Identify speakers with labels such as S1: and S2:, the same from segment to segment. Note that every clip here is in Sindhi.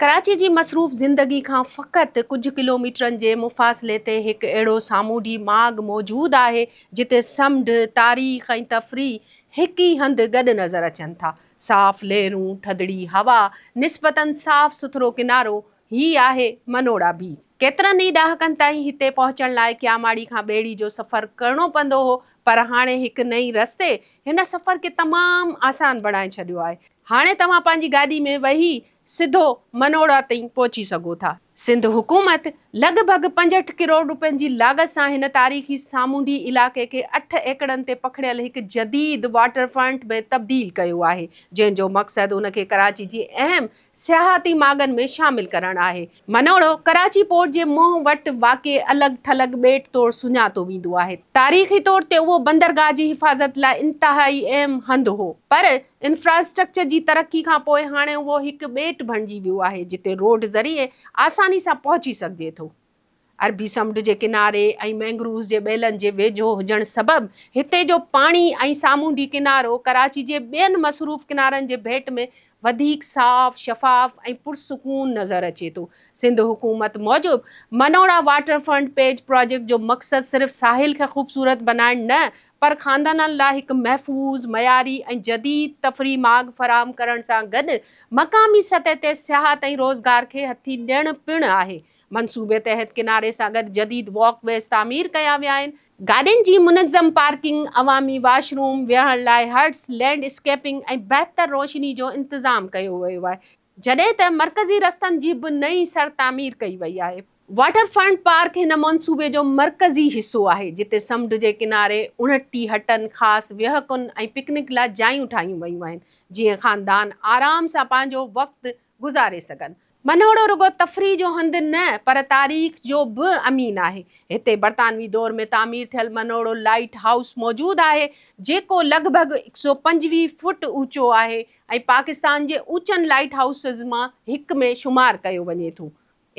S1: ڪراچي جي مصروف زندگي کان فقط ڪجهه ڪلوميٽرن جي مفاصلي تي هڪ اهڙو سامونڊي ماڳ موجود آهي جتي سمنڊ، تاريخ ۽ تفريح هڪ ئي هنڌ گڏ نظر اچن ٿا. صاف لهرون، ٿڌڙي هوا، نسبتاً صاف سٿرو ڪنارو، هي آهي منوڙا بيچ. ڪيترن ئي ڏهاڪن تائين هتي پهچڻ لاء ڪياماڙي کان ٻيڙي جو سفر ڪرڻو پوندو هو پر هاڻي هڪ نئين رستي هن سفر کي تمام آسان بڻائي ڇڏيو آهي. هاڻي توهان پنهنجي گاڏي ۾ ويهي سڌو منوڙا تائين پهچي سگهو ٿا. سنڌ حڪومت لڳ ڀڳ پنجهٺ ڪروڙ رپين جي لاڳت سان هن تاريخي سامونڊي علائقي کي اٺ ايڪڙن تي پکڙيل هڪ جديد واٽر فرنٽ ۾ تبديل ڪيو آهي، جنهن جو مقصد ان کي ڪراچي جي اهم سياحتي ماڳن ۾ شامل ڪرڻ آهي. منوڙو، ڪراچي پورٽ جي منهن وٽ واقع الڳ ٿلڳ ٻيٽ طور سڃاتو ويندو آهي. تاريخي طور تي اهو بندرگاهه جي حفاظت لاء انتهائي اهم هنڌ هو، پر انفراسٽرڪچر جي ترقي کان پوء هاڻي اهو هڪ ٻيٽ بڻجي ويو آهي، جتي روڊ ذريعي آساني سان پهچي سگهجي ٿو. عربي سمنڊ جي ڪناري ۽ مينگرووز جي ٻيلن جي ويجهو هجڻ سبب هتي جو پاڻي ۽ سامونڊي ڪنارو ڪراچي جي ٻين مصروف ڪنارن جي ڀيٽ ۾ وڌيڪ صاف، شفاف ۽ پرسڪون نظر اچي ٿو. سنڌ حڪومت موجب Manora water front beach project جو مقصد صرف ساحل کي خوبصورت بنائڻ نه پر خاندانن لاء هڪ محفوظ، معياري ۽ جديد تفريح ماڳ فراهم ڪرڻ سان گڏ مقامي سطح تي سياحت ۽ روزگار کي هٿي ڏيڻ پڻ آهي. منصوبي تحت ڪناري سان گڏ جديد واڪ ويز تعمير ڪيا ويا آهن. گاڏين جي منظم پارڪنگ، عوامي واش روم، ويهڻ لاء هرٽس، لينڊ اسڪيپنگ ۽ بهتر روشني جو انتظام ڪيو ويو آهي، جڏهن ته مرڪزي رستن جي به نئين سر تعمير ڪئي وئي آهي. واٽر فرنٽ پارڪ هن منصوبي جو مرڪزي حصو آهي، جتي سمنڊ جي ڪناري اڻٽي هٽن، خاص ويهڪن ۽ پڪنڪ لاء جايون ٺاهيون ويون آهن، جيئن خاندان آرام سان پنهنجو وقت گذاري سگهن. منهوڙو رڳو تفريح جو هنڌ نه پر تاريخ جو به امين آهي. هتي برطانوي دور ۾ تعمير ٿيل منهوڙو لائيٽ هائوس موجود آهي، جيڪو لڳ ڀڳ هڪ سؤ پنجويهه فوٽ اوچو آهي ۽ پاڪستان جي اوچن لائيٽ هائوسز مان هڪ ۾ شمار ڪيو وڃي ٿو.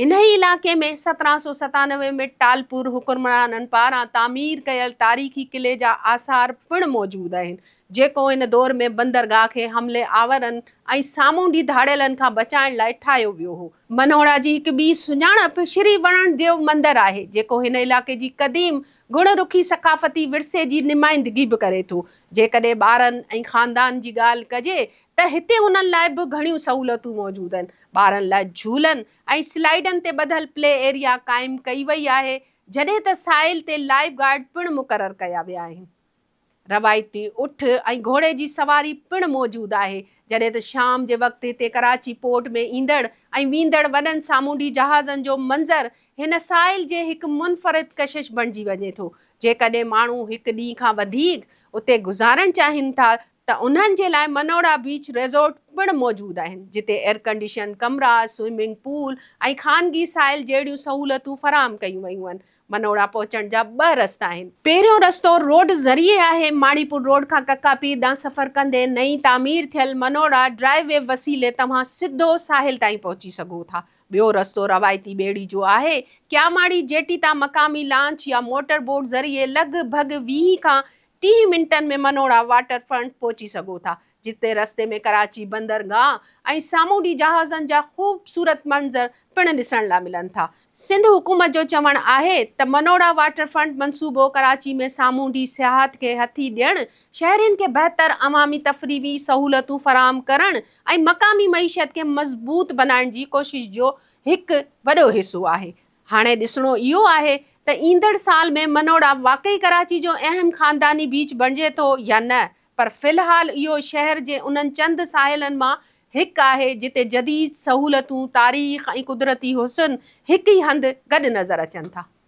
S1: انهيء علائقي ۾ سترهن سؤ ستانوي ۾ ٽالپور حڪمرانن پاران تعمير ڪيل تاريخي قلعي جا آثار پڻ موجود آهن، جيڪو ان دور ۾ بندرگاهه کي حملي آورن ۽ سامونڊي ڌاڙيلن کان بچائڻ لاء ٺاهيو ويو هو. منهوڙا جي هڪ ٻي سڃاڻپ شري وڻڻ ديو مندر آهي، جيڪو هن علائقي جي قديم گڻ رخي ثقافتي ورثي جي نمائندگي به ڪري ٿو. جيڪڏهن ٻارن ۽ خاندان جي ڳالهه ڪجي ته هتي هنن لاء به گهڻيون سهولتون موجود آهن، ٻارن لاء جهولن ۽ سلائيڊن تي ٻڌل پلي ايريا قائم ڪئي وئي آهي، جڏهن ته ساحل تي لائيف گارڊ پڻ مقرر ڪيا ويا آهن. روايتي اٺ ۽ گهوڙي جي سواري پڻ موجود آهي، جڏهن ته شام جي وقت هتي ڪراچي پورٽ ۾ ايندڙ ۽ ويندڙ وڏن سامونڊي جهازن جو منظر هن ساحل جي هڪ منفرد ڪشش بڻجي وڃي ٿو، جيڪڏهن ماڻهو هڪ ڏينهن کان وڌيڪ اتي گذارڻ چاهين ٿا ته انهن جي لاء منوڙا بيچ ريزورٽ پڻ موجود آهن، جتي ايئرڪنڊيشن ڪمرا، سوئمنگ پول ۽ خانگي ساحل جهڙيون سهولتون فراهم ڪيون ويون آهن. منوڙا پهچڻ جا ٻه رستا آهن. پهريون رستو روڊ ذريعي آهي. ماڻيپور روڊ کان ڪڪا پير ڏانهن سفر ڪندي نئين تعمير ٿيل منوڙا ڊرائيو وي وسيلي توهان سڌو ساحل تائين پهچي سگهو ٿا. ٻيو رستو روايتي ٻيڙي جو آهي. ڪياماڙي جيٽي تان مقامي لانچ يا موٽر بوٽ ذريعي لڳ ڀڳ ويهه کان ٽيهه منٽن ۾ منوڙا واٽر فرنٽ پهچي سگهو ٿا، جتي رستي ۾ ڪراچي بندرگاهه ۽ سامونڊي جهازن جا خوبصورت منظر پڻ ڏسڻ لا ملن ٿا. سنڌ حڪومت جو چوڻ آهي ته منوڙا واٽر فرنٽ منصوبو ڪراچي ۾ سامونڊي سياحت کي هٿي ڏيڻ، شهرين کي بهتر عوامي تفريحي سهولتون فراهم ڪرڻ ۽ مقامي معيشت کي مضبوط بنائڻ جي ڪوشش جو هڪ وڏو حصو آهي. هاڻي ڏسڻو اهو آهي ته ايندڙ سال ۾ منوڙا واقعي ڪراچي جو اهم خانداني بيچ بڻجي ٿو يا نه پر في الحال اهو شهر جي انهن چند ساحلن مان هڪ آهي جتي جديد سهولتون، تاريخ ۽ قدرتي حسن هڪ ئي هنڌ گڏ نظر اچن ٿا.